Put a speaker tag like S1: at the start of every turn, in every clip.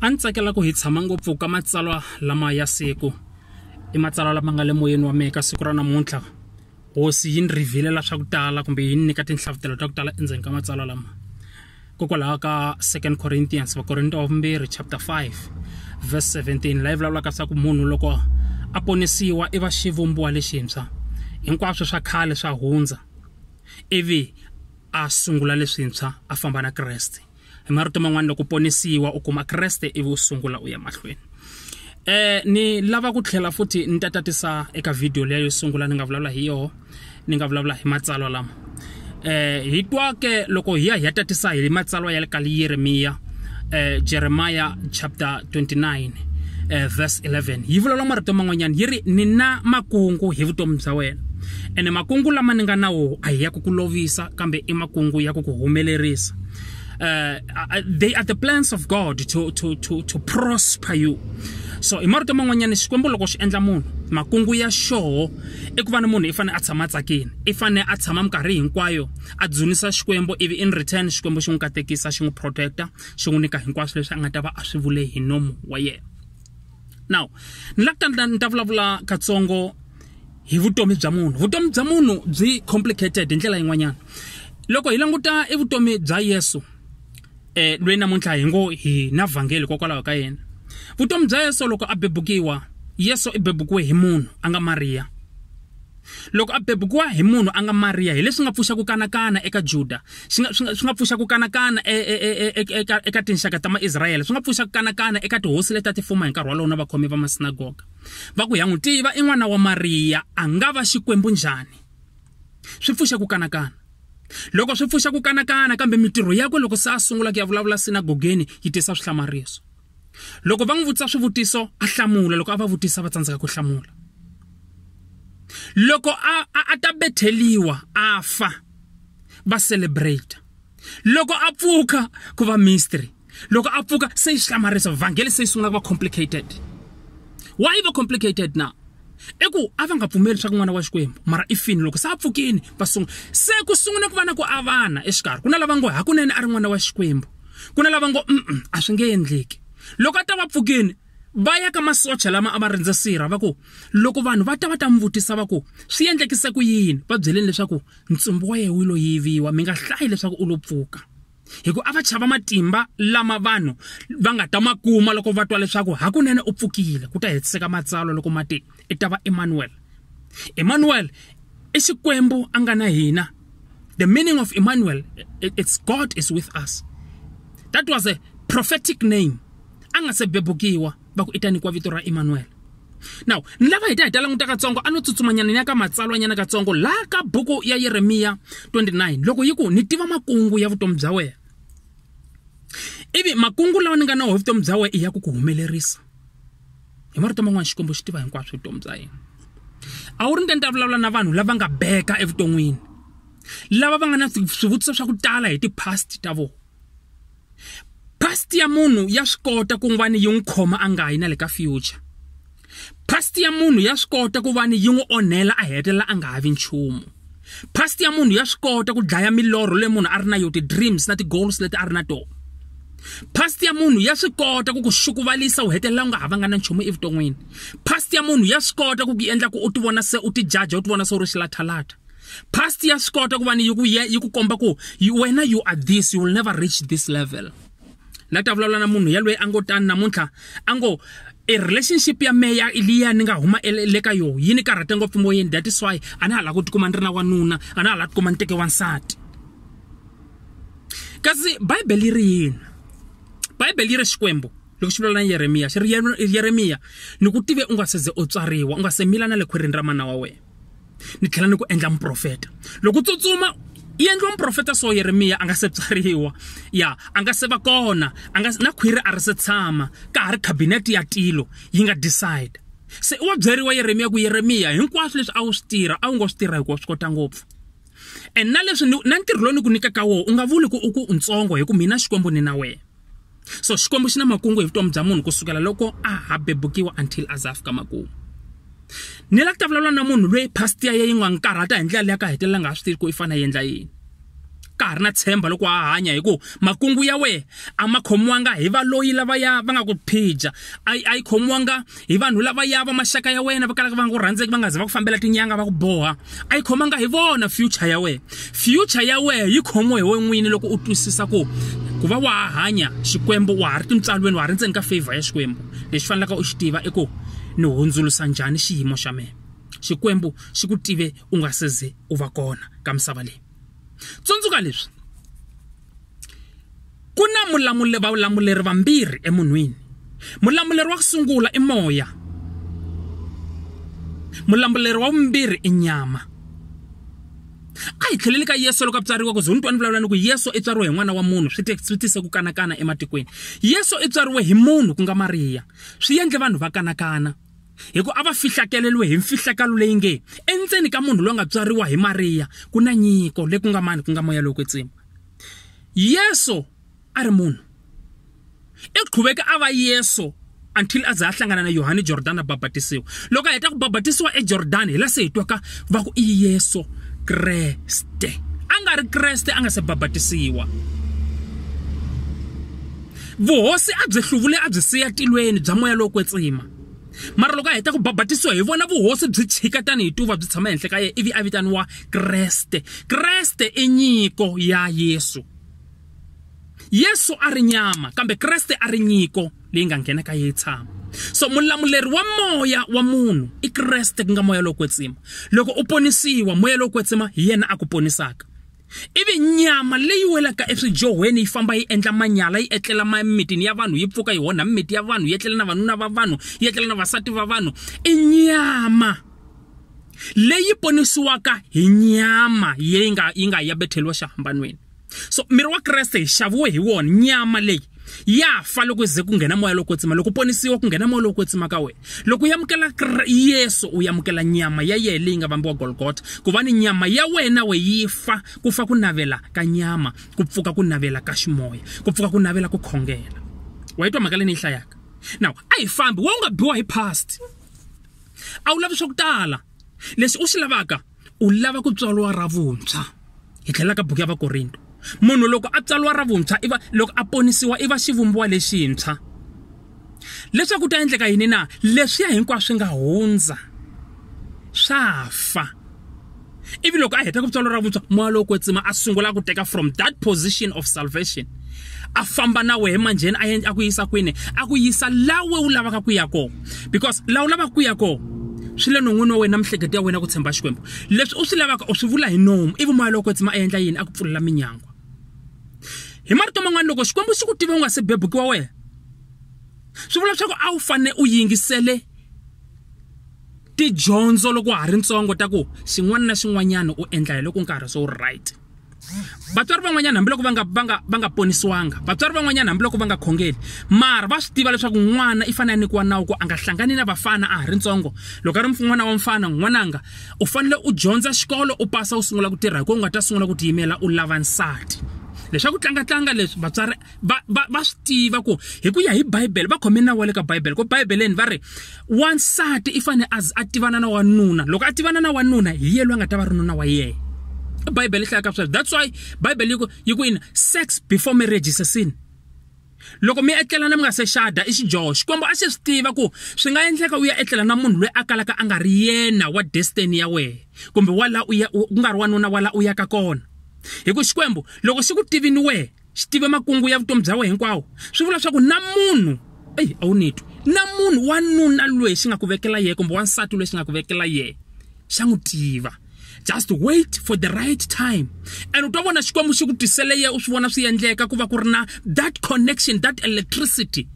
S1: a ni tsakela ku hi tshama ngopfu ka matsalwa lama ya siku i matsalwa lama nga le moyeni wa mehe ka siku ra namuntlha hosi yi ni rhivhilela swa ku tala kumbe yi ni nyika tinhlavutelo ta ku tala endzeni ka matsalwa lama kokwalaho ka second corinthians vakorinto wa vumbirhi chapter 5 verse 17 laha yi vulavulaka swa ku munhu loko a ponisiwa i va xivumbiwa lexintshwa hinkwaswo swa khale swa hundza ivi a sungula leswintshwa a famba na kreste hi marito man'wana loko ponisiwa u kuma kreste ivi u sungula u ya mahlweni eh ni lava ku tlhela futhi ni ta tatisa eka video leyo sungula ni nga vulavula hi yoho ni nga vulavula hi matsalwa lama eh hi twa ke loko hi ya hi ya tatisa hi matsalwa ya le ka yeremiya eh, jeremiah chapter 29 eh, verse 11 yi vulavula marito man'wanyana yi ri ni na makungu hi vutomi bya wena ene makungu lama ni nga na woho a hi ya ku ku lovisa kambe i makungu ya ku ku humelerisa uh, they are the plans of god to, to, to, to prosper you so hi marito man'wanyana xikwembu loko xi endla munhu makungu ya xoho i ku va ni munhu i fanele a tshama a tsakile i fanele a tshama minkarhi hinkwayo a dzunisa xikwembu ivi in return xikwembu xi n'wi katekisa xi n'wi protecta xi n'wi nyika hinkwaswo leswi a nga ta va a swi vule hi nomu wa yena now ni la ta ni ta vulavula katsongo hi vutomi bya munhu vutomi bya munhu byi complicated hi ndlela yin'wanyana loko hi languta evutomi bya yesu eh lwe namuntlha hi ngo hi na vhangeli kokwalaho ka yena vutomi bya yesu loko a bebukiwa yesu i bebukiwe hi munhu a nga mariya loko a bebukiwa hi munhu a nga mariya hi leswi nga pfuxa ku kanakana eka juda swi nga, swi nga, swi nga pfuxa ku kanakana e, e, e, e, e eka, eka tinxaka ta maisrayele swi nga pfuxa ku kanakana eka tihosi leti a ti fuma hi nkarhi walowo na vakhomi va masinagoga va ku ya n'wi tiva i n'wana wa mariya a nga va xikwembu njhani swi pfuxa ku kanakana loko swi pfuxa ku kanakana kambe mitirho yakwe loko se a sungula ku ya vulavula sinagogeni yi tisa swihlamariso loko va n'wi vutisa swivutiso a hlamula loko a va vutisa va tsandzeka ku hlamula loko a a, a ta betheliwa a fa va celebrate loko a pfuka ku va mystery loko a pfuka se yi hlamarisa vhangeli se yi sungula ku va complicated why va complicated now i ku a va nga pfumeli leswaku n'wana wa xikwembu mara i fini loko se a pfukini va sungula se ku sungula ku va na ku avana exikarhi ku na lava ngo hakunene a ri n'wana wa xikwembu ku na lava ngo mm a swi nge endleki loko a ta va pfukini va ya ka masocha lama a va rindze sirha va ku loko vanhu va ta va ta n'wi vutisa va ku swi endlekise ku yini va byeleni leswaku ntsumbu wa yehe wu lo yiviwa mi nga hlayi leswaku u lo pfuka hikuva a va chava matimba lama vanhu va nga ta ma kuma loko va twa leswaku hakunene u pfukile ku ta hetiseka matsalwa loko ma te i ta va emmanuel emmanuel i xikwembu a nga na hina the meaning of emmanuel it's god is with us that was a prophetic name a nga se bebukiwa va ku i ta nyikiwa vito ra emanuwele now ni lava hi ta hi ta languta katsongo a no tsutsumanyana ni ya ka matsalwanyana katsongo laha ka buku ya yeremiya 29 loko yi ku ni tiva makungu ya vutomi bya wena ivi makungu lawa ni nga na wo hi vutomi bya wena i ya ku ku humelerisa hi marito man'wana xikwembu xi tiva hinkwaswo vutomi bya yena a wu ri nte ni ta vulavula na vanhu lava nga beka evuton'wini lava va nga na swivutiso swa ku tala hi ti-past ta vona past ya munhu ya swi kota ku va ni yi n'wi khoma a nga yi na le ka future past ya munhu ya swi kota ku va ni yi n'wi onhela a hetelela a nga ha vi nchumu past ya munhu ya swi kota ku dlaya milorho leyi munhu a ri na yo ti-dreams na ti-goals leti a ri na tona past ya munhu ya swi kota ku ku xukuvalisa u hetelela u nga ha vanga na nchumu evuton'wini past ya munhu ya swi kota ku ku endla ku u ti vona se u ti jaja u ti vona se u ri xilathalata past ya swi kota ku va ni yi ku yi ku komba ku wena you are this you will never reach this level na ta vulavula na munhu yaloyi a ngo tani namuntlha a ngo e relationship ya meya liya ni nga huma le ka yoho yi ni karhate ngopfu moyeni that is why a na ha lava ku tikuma ni ri na wanuna a na ha lava tikuma ni teke wansati kasi bibele yi ri yini bibele yi ri xikwembu loko xi vulavula na yeremiya xi ri yeremiya ni ku tive u nga seze u tswariwa u nga se mila na le khwirini ra mana wa wena ni tlhela ni ku endla muprofeta loko tsutsuma yi endliwa muprofeta so yeremiya a nga se tswariwa ya a nga se va kona a nga na khwiri a ri se tshama ka ha ri khabinete ya tilo yi nga decide se i wa byeriwa yeremiya ku yeremiya hinkwaswo leswi a wu swi tirha a wu ngo swi tirha hikuva swi kota ngopfu and na leswi na ntirho lowu ni ku nyikaka wona u nga vuli ku u ku ntsongo hi ku mina xikwembu ni na wena so xikwembu xi na makungu hi vutomi bya munhu kusukela loko a ha bebukiwa until a za fika makumu ni la ku ta vulavula na munhu loyi past ya ye yi nga n'wi karhata hi ndlela leyi a ka hetelela nga ha swi tivi ku i fanele a endla yini ka ha ri na tshemba loko a hanya hi ku makungu ya wehe a ma khomiwanga hi valoyi lavaya va nga ku phija a yi khomiwanga hi vanhu lava ya va maxaka ya wena va kalaka va nga ku rhandzeki va nga za va ku fambela tinyanga va ku boha a yi khomanga hi vona future ya wena future ya wena yi khomiwe hi wena n'wini loko u twisisa ku ku va wa ha hanya xikwembu wa ha ri tintswalweni wa ha ri ndzeni ka favor ya xikwembu lexi fanelaka u xi tiva i ku ni hundzulusa njhani xiyimo xa mina xikwembu xi ku tive u nga se ze u va kona ka misava leyi tsundzuka leswi Ku na vulamuleri vambirhi emunhwini. Mulamuleri wa ku sungula i moya. Mulamuleri wa vumbirhi i nyama. A hi tlheleli ka Yesu loko a tswariwa ku ze ni twa ni vulavula ni ku Yesu i tswariwe hi n'wana wa munhu swi swi tise ku kanakana ematikweni. Yesu i tswariwe hi munhu ku nga Mariya swi endle vanhu va kanakana hi ku a va fihlakeleriwe hi mfihlakalo leyi nge endzeni ka munhu loyi a nga tswariwa hi Mariya ku na nyiko leyi ku nga mani ku nga moya lowo kwetsima. yesu a ri munhu i qhuveke a va yesu until a za a hlangana na yohane jordani a babatisiwa loko a heta ku babatisiwa ejordani hi la se hi twaka va ku i yesu kreste a nga ri kreste a nga se babatisiwa vuhosi a byi hluvule a byi siya tilweni bya moya lowo kwetsima mara loko a heta ku babatisiwa hi vona vuhosi byi chika tanihi tuva byi tshama ehenhla ka yena ivi a vitaniwa kreste kreste i nyiko ya yesu yesu a ri nyama kambe kreste a ri nyiko leyi nga nghena ka yeyi tshama so mulamuleri wa moya wa munhu i kreste ku nga moya lowo kwetsima loko u ponisiwa moya lowo kwetsima hi yena a ku ponisaka ivi nyama leyi welaka eswijohweni yi famba yi endla manyala yi etlela mimitini ya vanhu yi pfuka yi onha mimiti ya vanhu yi etlela na vanuna va vanhu yi etlela na vasati va vanhu i nyama leyi ponisiwaka hi nyama yi nga yi nga ya betheliwa xihambanweni so miri wa kreste hi xaviwe hi wona nyama leyi ya fa loko ze ku nghena moya loko tsima loko ponisiwa ku nghena moya loko tsima ka wena loko u amukela yesu u amukela nyama ya yena leyi nga vambiwa golgota ku va ni nyama ya wena we yi fa ku fa ku navela ka nyama ku pfuka ku navela ka ximoya ku pfuka ku navela ku khongela wa yi twa mhaka leyi ni yi hlayaka now a hi fambi wa u nga biwa hi past a wu lavi swa ku tala leswi u swi lavaka u lava ku tswariwa ra vuntshwa hi tlhela ka buku ya vakorinto munhu loko a tswariwa ra vuntshwa i va loko a ponisiwa i va xivumbiwa lexintshwa leswaku ku ta endleka yini na leswiya hinkwaswo swi nga hundza swa fa ivi loko a heta ku tswalo ra vuntshwa moya lowo kwetsima a sungula ku teka from that position of salvation a famba na wehe manjheni a yendla a ku yisa kwini a ku yisa lawe u lavaka ku ya kona because la u lavaka ku ya kona swi le non'wini wa wena mihleketo ya wena ku tshemba xikwembu leswi u swi lavaka u swi vula hi nomu ivi moya loko tsima a yendla yini a ku pfulela minyangwa hi marito man'wana loko xikwembu xi ku tive u nga se bebukiwa wena swi vula leswaku a wu fanele u yingisele tidyondzo loko ha ri ntsongo ta ku xin'wana na xin'wanyana u endla hi loko nkarhi se wu right vatswari van'wanyana hambiloko va nga va nga va nga ponisiwanga vatswari van'wanyana hambiloko va nga khongeli mara va swi tiva leswaku n'wana i fanele a nyikiwa nawu ku a nga hlangani na vafana a ha ri ntsongo loko a ri n'wana wa mfana n'wananga u fanele u dyondza xikolo u pasa u sungula ku tirha hi ku u nga ta sungula ku tiyimela u lava nsati leswaku tlangatlanga leswi vatswari va va va swi tiva ku hi ku ya hi bibele va khome nawu wa le ka bibele ku bibeleni va ri wansati i fanele a a tivana na wanuna loko a tivana na wanuna hi ye loyi a nga ta va ri nuna wa yena bibele yi hlayaka sweswo that's why bibele yi ku yi ku yini sex before marriage is a sin loko mi etlelana mi nga se xada i xidyoho xikwembu a xi swi tiva ku swi nga endleka u ya etlela na munhu loyi a kalaka a nga ri yena wa destiny ya wena kumbe wa la u ya ku nga ri wanuna wa la u yaka kona hi ku xikwembu loko xi ku tivini wena xi tive makungu ya vutomi bya wena hinkwawo swi vula leswaku na munhu eyi a wu ni twi na munhu wanuna loyi xi nga ku vekela yena kumbe wansati loyi xi nga ku vekela yena xa n'wi tiva just wait for the right time and u ta vona xikwembu xi ku tisele ye u swi vona swi endleka ku va ku ri na that connection that electricity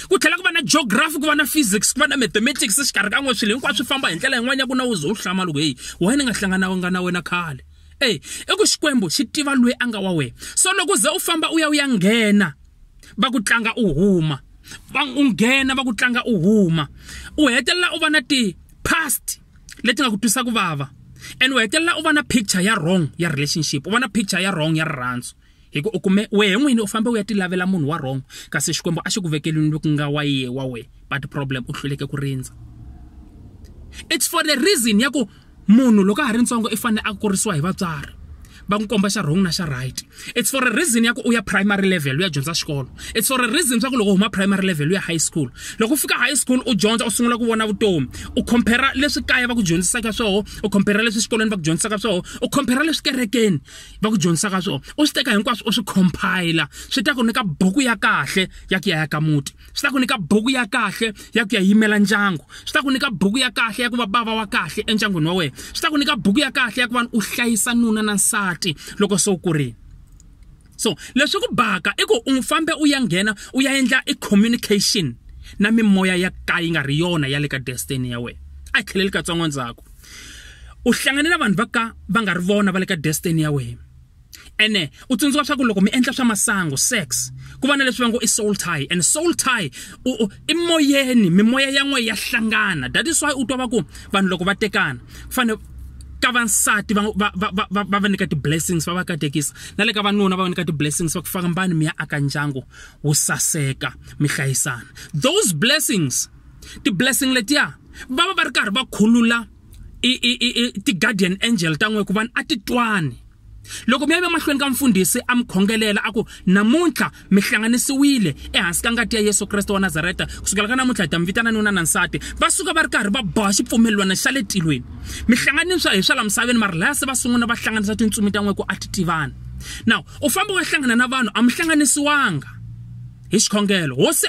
S1: ku tlhela ku va na geography ku va na physics ku va na mathematics xikarhi ka n'we swilo hinkwaswo swi famba hi ndlela yin'wana ya ku na u ze u hlama loko heyi why ni nga hlangananga na wena khale eyi i ku xikwembu xi tiva loyi a nga wa wena so loko ze u famba u ya u ya nghena va ku tlanga u huma va u nghena va ku tlanga u huma u hetelela u va na ti-past leti nga ku twisa ku vava and u hetelela u va na picture ya wrong ya relationship u va na picture ya wrong ya rirhandzu hi ku u kume wehe n'wini u fambe u ya ti lavela munhu wa wrong kasi xikwembu a xi ku vekelini loku nga wa yiye wa we but problem u hluleke ku rindza it's for the reason ya ku munhu loko a ha ri ntsongo i fanele a kurisiwa hi vatswari va n'wi komba xa wrong na xa right it's for a reason ya ku u ya primary level u ya dyondza xikolo it's for a reason swa ku loko u huma primary level u ya high school loko u fika high school u dyondza u sungula ku vona vutomi u compare leswi kaya va ku dyondzisaka swoho u compare leswi xikolweni va ku dyondzisaka swoho u compare leswi kerekeni va ku dyondzisaka swona u swi teka hinkwaswo u swi compile swi ta ku nyika buku ya kahle ya ku ya ya ka muti swi ta ku nyika buku ya kahle ya ku ya yimela ndyangu swi ta ku nyika buku ya kahle ya ku va bava wa kahle endyangwini wa wena swi ta ku nyika buku ya kahle ya ku va u hlayisa nuna na nsati loko se u kurile so leswi ku baka i ku u fambe u ya nghena u ya endla i communication na mimoya ya ka yi nga ri yona ya le ka destiny ya wena a tlheleli katsongo ndzhaku u hlangane na vanhu va ka va nga ri vona va le ka destiny ya wena ene u tsundzuka swa ku loko mi endla swa masangu sex ku va na leswi va ngo i soul tie and soul tie i moyeni mimoya ya n'we ya hlangana that is why u twa va ku vanhu loko va tekana ku fanele ka vansati va va va va va va nyika ti-blessings va va katekisa na le ka vanuna va va nyika ti-blessings va ku fambani mi ya aka ndyangu wu saseka mi hlayisana those blessings ti-blessing letiya va va va ri karhi va khulula ti-guardian angel ta n'we ku vanhu a ti twani loko mi ya emahlweni ka mfundhisi a mi khongelela a ku namuntlha mi hlanganisiwile ehansi ka ngati ya yesu kreste wa nazareta kusukela ka namuntlha hi ta mi vitana nuna na nsati va suka va ri karhi va boha xipfumelelwana xa le tilweni mi hlanganiswa hi swa la misaveni mara laya se va sungula va hlanganisa tintsumi ta n'we ku a ti tivani now u famba wa hlangana na vanhu a mi hlanganisiwanga hi xikhongelo hosi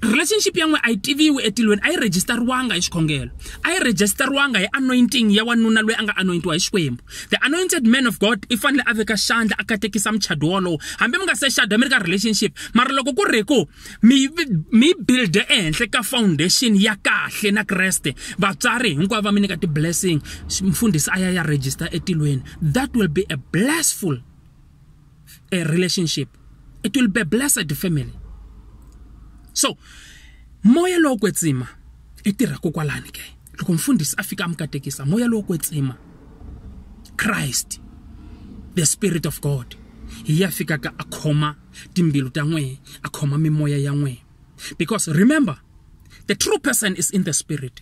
S1: relationship ya n'we a yi tiviwi etilweni a yi rejistariwanga hi xikhongelo a yi rejistariwanga hi anointing ya wanuna loyi a nga anointiwa hi xikwembu the anointed man of god i fanele a veka xandla a katekisa muchado wolowo hambi mi nga se xada mi ri ka relationship mara loko ku ri ku mi mi builde ehenhla ka foundation ya kahle na kreste vatswari hinkwavo va mi nyika ti-blessing mfundhisi a ya ya register etilweni that will be a blessful a relationship it will be blessed family so moya lowo kwetsima i tirha kokwalani ke loko mfundhisi a fika amukatekisa moya lowo kwetsima Christ the spirit of God hi ya fika ka akhoma timbilu ta n'we akhoma mimoya ya n'we because remember the true person is in the spirit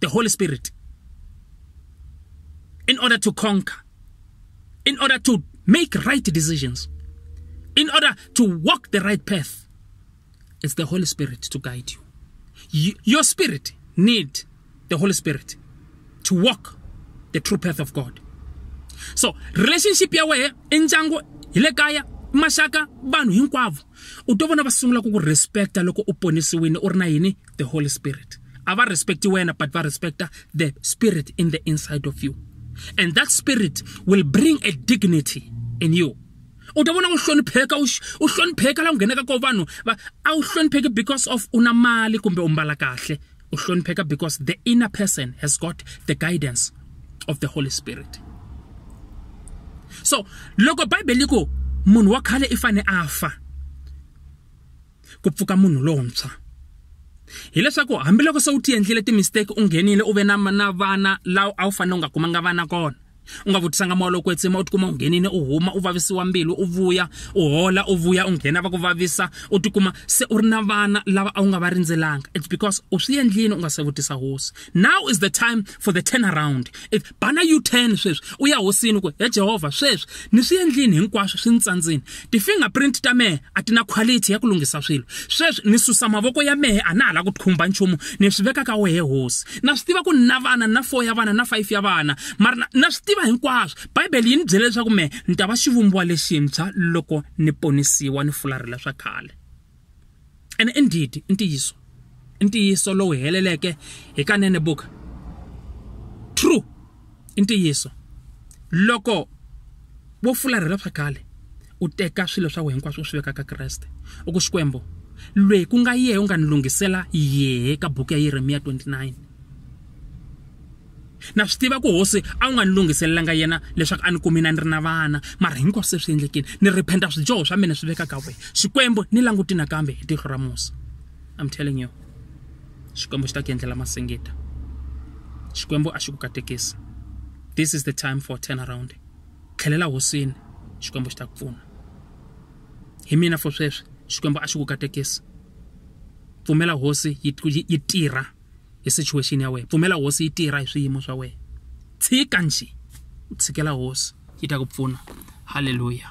S1: the Holy Spirit in order to conquer, in order to make right decisions, in order to walk the right path. It's the Holy Spirit to guide you. you your spirit need the Holy Spirit to walk the true path of God. So, relationship ya wehe enjango ile kaya mashaka vanhu hinkwavo u to vona va sungula ku ku respecta loko u ponisiwile u ri na yini the holy spirit ava respect wena but va respecta the spirit in the inside of you and that spirit will bring a dignity in you u ta vona u hlonipheka u hlonipheka la u nghenaka ko vanhu va a wu hlonipheki because of u na mali kumbe u mbala kahle u hlonipheka because the inner person has got the guidance of the holy spirit so loko bibele yi ku munhu wa khale i fane a fa ku pfuka munhu lontshwa hileswaku hambiloko se u ti endlile timistake u nghenile u ve na na vana lawa a wu fanele u nga kumanga vana kona u nga vutisanga moya loko etsima u tikuma u nghenile u huma u vavisiwa mbilu u vuya u hola u vuya u nghena va ku vavisa u tikuma se u ri na vana lava a wu nga va rindzelanga it's because u swi endlile u nga se vutisa hosi now is the time for the turn around bana u-10 sweswi u ya hosini ku he jehovha sweswi ni swi endlini hinkwaswo swi ni tsandzini ti-fingerprint ta mehe a ti na quality ya ku lunghisa swilo sweswi ni susa mavoko ya mehe a na ha la ku khumba nchumu ni swi veka ka wehe hosi na swi tiva ku ni na vana na four ya vana na five ya vana mara na swi tiva hinkwaswo bibele yi ni byele leswaku mehe ni ta va xivumbiwa lexintshwa loko ni ponisiwa ni fularhela swa khale ene i ndhidi i ntiyiso i ntiyiso lowu heleleke hi kanene buka true i ntiyiso loko wo fularhela swa khale u teka swilo swa wena hinkwaswo u swi veka ka kreste u ku xikwembu lweyi ku nga yehe u nga ni lunghisela yehe ka buku ya yeremiya 29 Na swi tiva ku hosi a wu nga ni lunghiselelanga yena leswaku a ni kumi na ni ri na vana, mara hinkwaswo se swi endlekile. Ni rephenta swidyoho swa mina swi veka ka wena. Xikwembu, ni languti nakambe hi tihlo ra musa. I'm telling you, Xikwembu xi ta ku endlela masingita. Xikwembu a xi ku katekisi. This is the time for turnaround. Tlhelela hosini, Xikwembu xi ta ku pfuna. Hi mina for sweswi, Xikwembu a xi ku katekisi. Pfumela hosi yi yi tirha. hi situation ya wena pfumela hosi yi tirha hi swiyimo swa wena tshika njhe u tshikela hosi yi ta ku pfuna halleluya